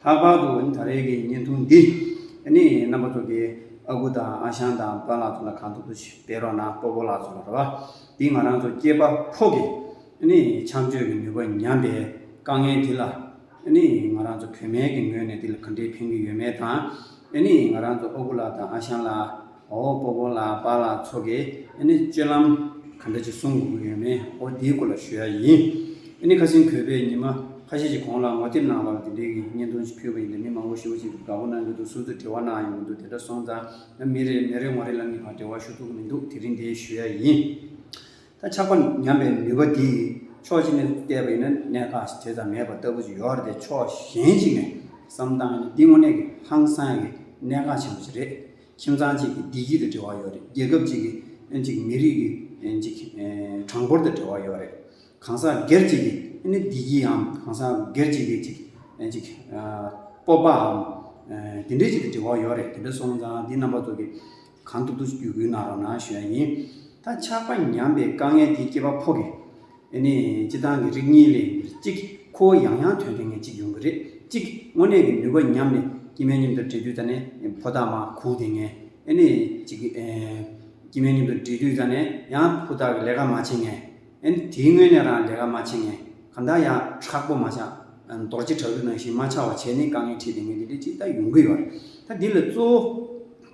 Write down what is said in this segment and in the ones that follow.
ལྷག་པར་དུ་ད་རེས་ཀྱི་བརྙན་ཐུང་འདི་ནི་རྣམ་པ་དྲུག་གི་ཨ་ཁུ་དང་ཨ་ཞང་དང་པཱ་ལགས་ཚོ་ལ་གང་ཐུབ་ཐུབ་ཞིག་སྤེལ་རོགས་གནང་སྤོ་བོ་ལགས་ཚོ་རེད་བ། འདི་ང་རང་ཚོ་སྐྱེས་པ་ཕོག་གི་ཆམ་ཆོས་ཀྱི་ནུས་པ་ཉམས་པའི་དཀའ་ངལ་དེ་ལ་ང་རང་ཚོ་བུད་མེད་ཀྱི་ངོས་ནས་དེ་ལ་ག་འདྲའི་ཕན་གྱི་ཡོད་མེད་དང་ང་རང་ཚོ་ཨ་ཁུ་ལགས་དང་ཨ་ཞང་ལགས། ཨོ་པོ་པོ་ལགས་པཱ་ལགས་ཚོ་གིས་ཨེ་ནི་སྤྱོད་ལམ་ག་འདྲ་ཅིག་གསུང་དགོས་ཀྱི་ཡོད་མེད་ཨོ་དེའི་སྐོར་ལ་ཞུ་ཡ་ཡིན། ཨེ་ནི་ཁ་སིང་བོད་པའི་ཉི་མ་ཁ་ཤས་ཀྱི་གོང་ལ་ངོ་དེབ་ནང་ལ་དེ་འདྲའི་གི་བརྙན་ཐུང་ཞིག་ཕུལ་བ་ཡིན་ད་མི་མང་པོ་ཞིག་ཨོ་ཞེས་དགའ་པོ་གནང་གི་འདུག་ཟུར་དུ་དྲི་བ་གནང་ཡོང་གི་འདུག་དེ་འདྲ་སོང་ཙང་ང་མི་རེ་མི་རེ་ངོ་རེ་ལ་ངེས་པར་དྲི་བ་ཞུ་ཐུབ་ཀྱི་མི་འདུག་དེ་རིང་དེ་ཞུ་ཡ་ཡིན། ད་ཆགས་པ་ཉམས་པའི་ནུས་པ་དེ་ཡིས་ཕྱོགས་གཅིག་ནས་བལྟས་པ་ཡིན་ན་གནད་འགག་ཞིག་དེ་ཙམ་མེད་པ་ལྟ་བུ་ཅིག་ཡོད་རེད་དེ་ཕྱོགས་གཞན་ཞིག་ནས་བསམ་སྟངས་ཡིན་ན་འདི་དངོས་གནས་ཀྱི་ཧང་སང་གི་གནད་འགག་ཆེན་པོ་ཞིག་རེད། ཁྱིམ་ཚང་གཅིག་གི་བདེ་སྐྱིད་དང་འབྲེལ་བ་ཡོད་རེད་རྒྱལ་ཁབ་གཅིག་གི་མི་རིགས་ཀྱི་གྲངས་འབོར་དང་འབྲེལ་བ་ཡོད་རེད། གང་ཟག་སྒེར་གཅིག་གི་བདེ་སྐྱིདའམ་གང་ཟག་སྒེར་གཅིག་གི་སྤོབས་པའམ་དེ་འདྲའི་གཅིག་དང་འབྲེལ་བ་ཡོད་རེད་དེ་འདྲ་སོང་ཙང་དེ་རྣམ་པ་ཚོ་གི་གང་ཐུབ་ཐུབ་བརྒྱུད་སྐུལ་གནང་རོགས་གནང་ཞུ་ཡ་ཡིན། ད་ཆགས་པ་ཉམས་པའི་དཀའ་ངལ་དེ་སྐྱེས་པ་ཕོ་གི། འདི་ནི་སྤྱི་བཏང་གི་རིགས་གཉིས་ལས་གཅིག་ཁོ་བོ་ཡང་ཡང་དོན་དེ་ངས་ཅིག་ཡོང་གི་རེད་ཅིག་དངོས་གནས་ཀྱི་ནུས་པ་ཉམས་ནས་སྐྱི་སྨན་མཉམ་དུ་འདྲེས་དུས་ད་ནི་ཕོ་ཐག་མ་ཁུག་དེ་ངས་ནི་ཅིག་སྐྱི་སྨན་མཉམ་དུ་འདྲེས་དུས་ད་ནི་ཡང་ཕོ་ཐག་གི་ལས་ཀ་མ་བྱེད་ངས་ནི་དེའི་སྔོན་ནས་རང་ལས་ཀ་མ་བྱེད་ངས་གང་ལྟར་ཡང་དྲག་པོ་མ་བྱ། རྡོ་རྗེ་དྲག་རུས་ནང་བཞིན་མ་ཆགས་བ་བྱས་ནི་དཀའ་ངལ་འཕྲད་དེ་ངས་འདི་ལས་ཅིག་ད་ཡོང་གི་ཡོད་རེད་ད་འདི་ལ་གཙོ་བོ།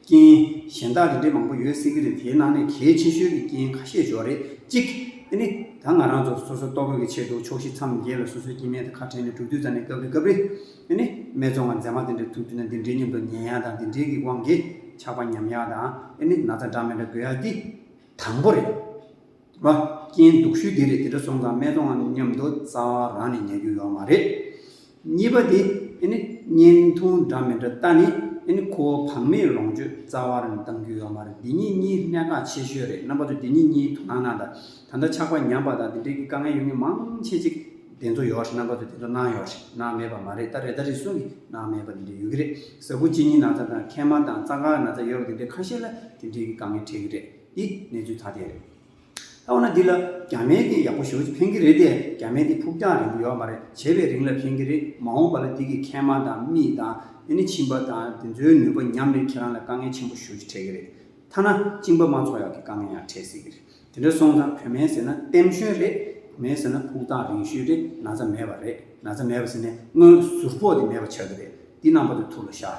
རྐྱེན་གཞན་དག་རིགས་འགྲེ་མང་པོ་ཡོད་སྲིད་ཀྱི་རེད་དེའི་ནང་ནས་གལ་ཆེ་ཤོས་ཀྱི་རྐྱེན་ཁ་ཤས་འཇོག་རེས་གཅིག་དེ་ནི་ད་ང་རང་ཚོ་སོ་སོའི་ལྟོ་གོས་ཀྱི་ཆེད་དུ་ཕྱོགས་བཞི་མཚམས་བརྒྱད་ལ་སོ་སོའི་སྐྱེ་དམན་དང་ཁ་བྲལ་ནས་དྲུག་དུས་ཙམ་ནས་སྐབས་རེ་སྐབས་རེ་དེ་ནི་སྨད་ཚོང་ང་མཛེས་མ་དེ་འདྲའི་ཐུགས་མཐུན་ན་འདི་འདྲའི་སྙམ་དུ་ཉན་ཡག་དང་འདི་འདྲའི་གི་དབང་གིས་ཆགས་པ་ཉམས་ཡག་དང་དེ་ནི་ན་ཚ་འདྲ་མི་འདྲ་དགོས་ཡག་གི་དང་པོ་རེད། བ། རྐྱེན་སྡུག་ཤོས་དེ་རེད་དེ་འདྲ་སོང་ཙང་སྨད་གཏོང་ངམ་སྙམ་དུ་རྩ་བ་རང་ནས་ཉལ་རྒྱུ་ཡོད་མ་རེད། གཉིས་པ་དེ་ནི་བརྙན་ཐུང་འདྲ་མི་འདྲ་ལྟ་ནི་ཁོ་བོ་བག་མེད་ལོངས་སྤྱོད་རྩ་བ་རེ་ནས་བཏང་རྒྱུ་ཡོད་མ་རེད་འདི་གཉིས་གཉིས་གནད་འགག་ཆེ་ཤོས་རེད་རྣམ་པ་ཚོས་འདི་གཉིས་གཉིས་དོ་སྣང་གནང་དང་ད་ལྟ་ཆགས་པ་ཉམས་པ་དང་དེ་འབྲེལ་གྱི་དཀའ་ངལ་ཡོད་ངེས་མང་ཆེ་ཅིག་དེ་ཚོ་ཡོད་རེད་རྣམ་པ་ཚོས་དེ་ཚོ་གནང་ཡོད་རེད་གནང་མེད་པ་མ་རེད་ད་རེ་ད་རེ་ཟུང་གིས་གནང་མེད་པ་དེ་འདྲ་ཡོད་ཀྱི་རེད་གཟའ་ཕུག་གཅིག་གཉིས་ན་ཚ་དང་མཁལ་མ་དང་རྩ་འགག་ན་ཚ་ཡོད་པ་དེ་འདྲ་ཁ་ཤས་ལ་དེ་འབྲེལ་གྱི་དཀའ་ངལ་འཕྲད་ཀྱི་རེད། འདི་གནས་ཚུལ་ཐ་དད་རེད། ད་འོ་ན་འདི་ལ་རྒྱ་མའི་དེ་ཡག་པོ་ཞུ་ཕན་གྱི་རེད་དེ་རྒྱ་མའི་དེ་ཕུགས་རྒྱང་རིང་པོ་ཡོད་མ་རེད་བྱས་པའི་རིང་ལ་ཕན་གྱི་རེད་མ་འོངས་པ་ལ་འདི་གི་མཁལ་མ་དང་རྨིས་དང་དེ་ནི་བྱིན་པ་དང་དེ་ཚོའི་ནུས་པ་ཉམས་ནས་ཁྱེད་རང་ལ་དཀའ་ངལ་ཆེན་པོ་ཞུ་རྒྱུ་འཕྲད་གྱི་རེད་ཐ་ན་བཅིངས་པ་མ་ཚོགས་ཡག་གི་དཀའ་ངལ་ཡང་འཕྲད་སྲིད་གྱི་རེད་དེ་འདྲ་སོང་ཙང་བོད་མའི་ཟེར་ན་ལྟེམ་ཞོན་རེད་བོད་མའི་ཟེར་ན་ཕུགས་རྟགས་རིང་ཤོས་རེད་ན་ཚ་མེད་པ་རེད་ན་ཚ་མེད་པ་ཟེར་ནས་དངོས་ཟུར་ཕོག་དེ་མེད་པ་ཆགས་ཀྱི་རེད་འདི་རྣམ་པ་དེ་ཐུགས་ལ་ཤར།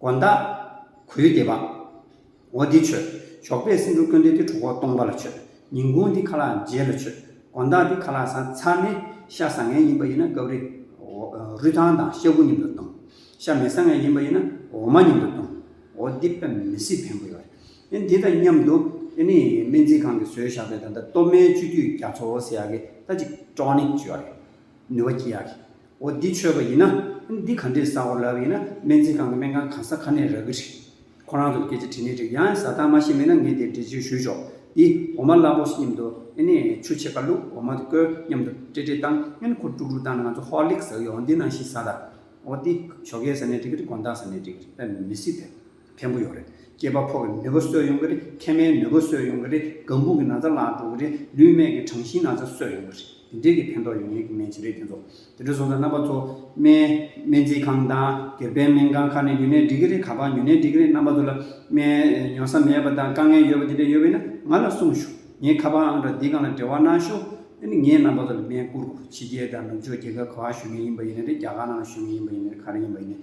དགོན་བདག། གུས་འདེད་པ། འོ་འདི་ཆོས། ཞོགས་པའི་སེང་ཕྲུག་སྐྱོན་འདི་དེ་གྲོ་ཁོག་སྟོང་པ་ལ་ཆོས། ཉིན་གུང་འདི་ཁ་ལག་མཇལ་ལ་ཆོས། དགོན་བདག་འདི་ཁ་ལག་ཟ་ཚ་ནི། ཤ་ཟ་ངན་ཡིན་པ་ཡིན་ན་སྐབས་རེ། རུས་ཐང་དང་ཤ་ཁུ་མཉམ་དུ་བཏུང། ཤ་མི་ཟ་ངན་ཡིན་པ་ཡིན་ན་འོ་མ་མཉམ་དུ་བཏུང། འོ་འདི་དཔེ་མི་སྲིད་ཕན་པོ་ཡོད་རེད། འདི་དང་མཉམ་དུ། དེ་ནི་སྨན་རྩིས་ཁང་གི་བཟོས་བཞག་པའི་ད་ལྟ་སྟོད་སྨད་སྤྱི་འཐུས་རྒྱ་མཚོ་ཟེར་ཡག་གི་ལྟ་ཅིག་ཀྲོ་ནི་བཅོས་ཡག་གི། ནུས་པ་སྐྱིད་ཡག་གི། འོ་འདི་ཆོས་པ་ཡིན་ན། འདི་ག་འདྲས་བཟའ་འོ་ལབ་ཡིན་ན་སྨན་རྩིས་ཁང་གི་སྨན་ཁང་གང་ས་ག་ནས་རག་གི་རེད། ཁོ་རང་ཚོར་སྐད་ཆ་དྲིས་ནི་འགྲིག་ཡང་བཟའ་སྟངས་མ་ཤེས་མེད་ན་ངས་དེ་འགྲེལ་བརྗོད་ཞུས་ཆོག་འདི་འོ་མ་སླ་པོ་ཞིག་སྙམ་དུ་ཨེ་ནས་ཆུ་ཕྱེད་ཀ་བླུགས་འོ་མ་དེ་བསྐོལ་སྙམ་དུ་སྤྲེ་སྤྲེ་བཏང་སྔན་ཁོ་དཀྲུག་དཀྲུག་བཏང་ན་ང་ཚོ་ཧོར་ལེགས་ཟ་གི་འོ་འདི་ནང་བཞིན་བཟའ་དང་འོ་འདི་ཞོ་ཁའི་ཟ་ནས་འགྲིག་གི་རེད་དགོང་དག་ཟ་ནས་འགྲིག་གི་རེད་ཨ་མི་སྲིད་དེ། ཕན་པོ་ཡོང་གི་རེད། སྐྱེས་པ་ཕོ་གི་ནུས་པ་གསོས་ཡོང་གི་རེད། མཁལ་མའི་ནུས་པ་གསོས་ཡོང་གི་རེད། སྒམ་བུག་གི་ན་ཚ་བརླག་འགྲོ་གི་རེད། ལུས་སྨད་ཀྱི་གྲང་ཞིང་ན་ཚ་གསོས་ཡོང་གི་རེད། དེ་འདྲའི་གི་ཕན་ཐོགས་ཡོང་ངེས་ཀྱི་སྨན་ཆེན་རེད་དེ་ཚོ། དེ་འདྲ་སོང་ཙང་རྣམ་པ་ཚོ། སྨན། སྨན་རྩིས་ཁང་དང། སྒེར་པའི་སྨན་ཁང་ཁག་ནས་ཉུལ་ནས་འགྲིག་གི་རེད་ག་པར་ཉུལ་ནས་འགྲིག་གི་རེད་རྣམ་པ་ཚོ་ལ། སྨན། ཡོང་ས་མེད་པ་དང་དཀའ་ངལ་ཡོད་པ་དེ་འདྲ་ཡོད་པས་ན་ང་ལ་གསུངས་ཞུ། ངའི་ཁ་པར་ཨང་གྲངས་འདི་གང་ལ་འབྲེལ་བ་གནང་ཞུ། ཨ་ནི་ངས་རྣམ་པ་ཚོ་ལ་སྨན་བསྐུར་དགོས། ཕྱི་རྒྱལ་དང་ནུབ་ཕྱོགས་རྒྱལ་ཁབ་གང་ཞུ་ངེས་ཡིན་པ་ཡིན་ན་རེད་རྒྱ་གར་ནང་ལ་ཞུ་ངེས་ཡིན་པ་ཡིན་ན་རེད་ག་རེ་ཡིན་པ་ཡིན་ན